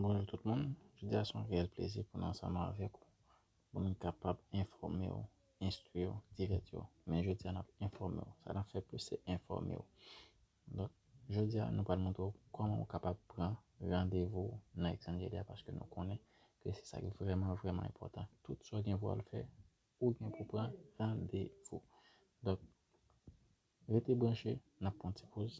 Bonjou tout moun, jodi a son reyèl plezi pou nou ansanm avèk ou pou nou kapab enfòme ou, enstwi ou, divèti ou. Men jodi a nap enfòme ou, sa nap fè plis se enfòme ou. Donk jodi a nou pral montre ou kòman ou kapab pran randevou nan Exangelia paske nou konnen ke se sa ki vrèman vrèman enpòtan. Tout sa ou gen pou al fè, ou gen pou pran randevou. Donk rete branche, nap pran ti poz.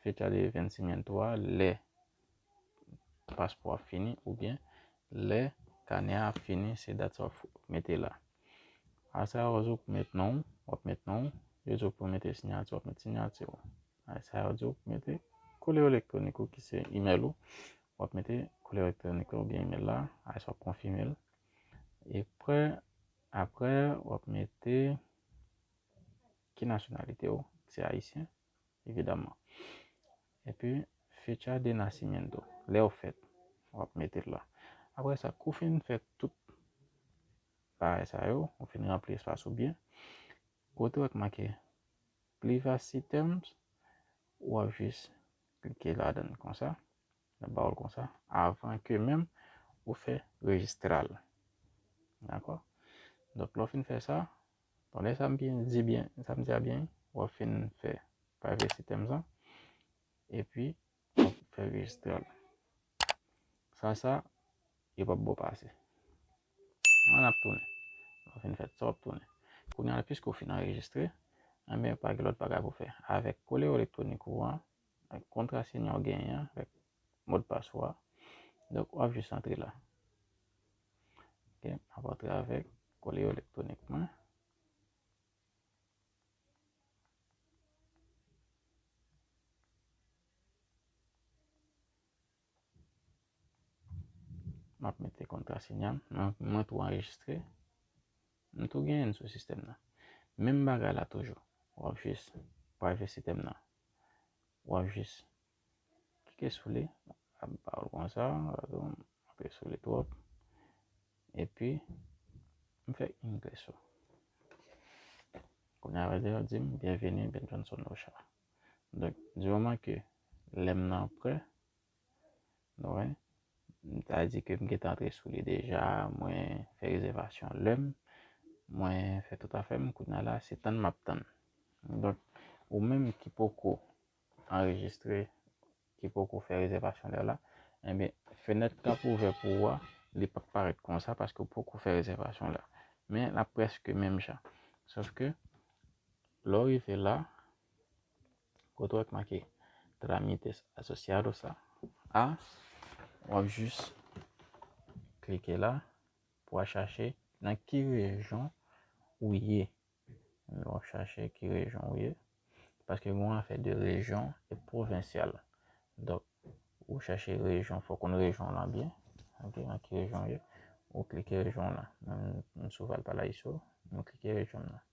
Fetale Vensimen 3, Lè paspò a fini oubyen lè kanè a ap fini se dat sa w mete la. Asa yo di w pou met non w, w ap met non w, yo di w pou mete sinyati w ap met sinyati w. Asa yo di w pou mete kole elektwonik ou ki se imèl ou, w ap mete kole elektwonik la oubyen imèl la, asa w ap konfime l. Epre, apre w ap mete ki nasyonalite w, se ayisyen. evidaman. Epi Fecha de Nascimento, lè ou fèt, w ap mete l la. Apre sa, kou fin fè tout bagay sa yo, ou fin ranpli espas ou byen, kote wè ki make Privacy Terms, w ap jis klike ladan l konsa, l ap ba ou l konsa, avan ke menm ou fè rejistral. Dakò? Donk lè w fin fè sa, Bon e sam byen di byen e sam di a byen wap fin fè privacy terms an epi wap fè registral san sa yo pap baw pase an ap tounen lè w fin fè tout sa wap tounen kounye a piske w fin anrejistre anben pa gen lòt bagay pou fè avèk kole electronik ou an ak kontrasenya ou genyen an avèk modpas ou a. Donk wap jis antre la. Ok, map antre avèk kole yo elektwonik mwen. Map mete kontrasenya m, mwen tou anrejistre. M tou genyen sou sistèm nan. Menm bagay la toujou, wap jis private sistèm nan. wap jis klike sou li lap ba ou konsa klike sou li twòp epi m fè yn klik sou kounye a li di m byenveni Benson Noshar donk di moman ke lèm nan prè Nou wè, m ta di ke m gentan antre sou li deja, mwen fè rezèvasyon lè m, mwen fè tout afè m, kounye a la se tann m ap tann. Donk, ou menm ki poko anrejistre, ki poko fè rezèvasyon lè w la, enben fenèt k ap ouvè pou ou a, li p ap parèt konsa paske ou poko fè rezèvasyon lè a. Men, l ap prèske menm jan. Sofke, lè w rive la. Kote wè ki make Trámites Asociados la, a, w ap jis klike la pou w al chache nan ki rejyon ou ye. W ap chache ki rejyon ou ye. Paske gen yon afè de rejyon e pwovensyal. Donk, ou chache rejyon, fò konn rejyon lan byen. Ok, nan ki rejyon ou ye. Ou klike rejyon lan. Mwen sou Valparaíso, mwen klike rejyon lan.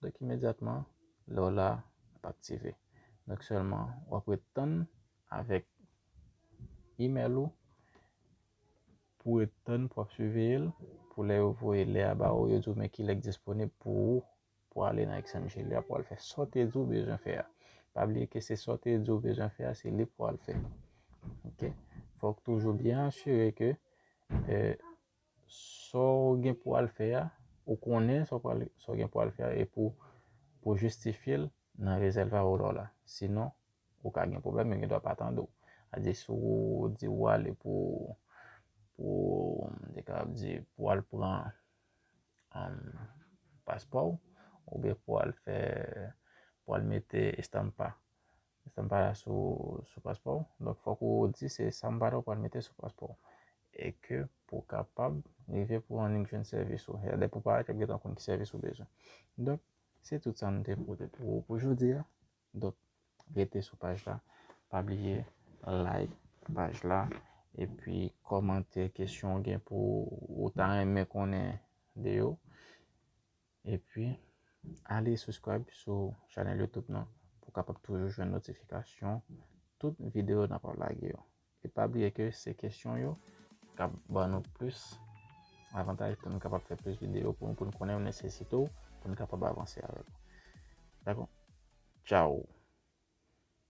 Donk imedyatman lè w la ap aktive. Donk sèlman w ap ret tann avèk email ou pou ret tann pou ap siveye l pou lè yo voye lè a ba ou yo di w men kilè k disponib pou ou pou ale nan XMG lè a pou al fè sa w te di w bezwen fè a. Pa bliye ke se sa w te di w bezwen fè a se li pou w al fè ok. Fò w toujou byen asire ke Saw gen pou al fè a, ou konnen sa w pral sa w gen pou al fè a e pou pou jistifye l nan reserva oral la. Sinon, ou ka gen pwoblèm, yo gen dwa pa tande w. Adi si w di ou ale pou pou m te kapab di pou w al pran um paspò w oubyen pou w al fè pou w al mete estampa Sa m pa la sou sou paspò w. Donk fòk ou di se sa m pa la ou pral mete sou paspò w. E ke pou kapab rive pou annik jwenn sèvis ou. Lè pou parèt yo ap gentan konn ki sèvis ou bezwen. Donk se tout sa m te pote pou ou pou jodi a. Donk rete sou paj la. Pa bliye like paj la. E pi kòmante kesyon ou gen pou ou ta renmen konnen de yo. Epi ale subscribe sou chanèl youtube nan pou kapab toujou jwenn notifikasyon tout videyo nan ap lage yo. E pa bliye ke se kesyon yo kap ban nou plis avantaj pou nou kapab fè plis videyo pou nou pou nou konnen ou nesesite ou pou nou kapab avanse avèk ou. Dakò? Ciao!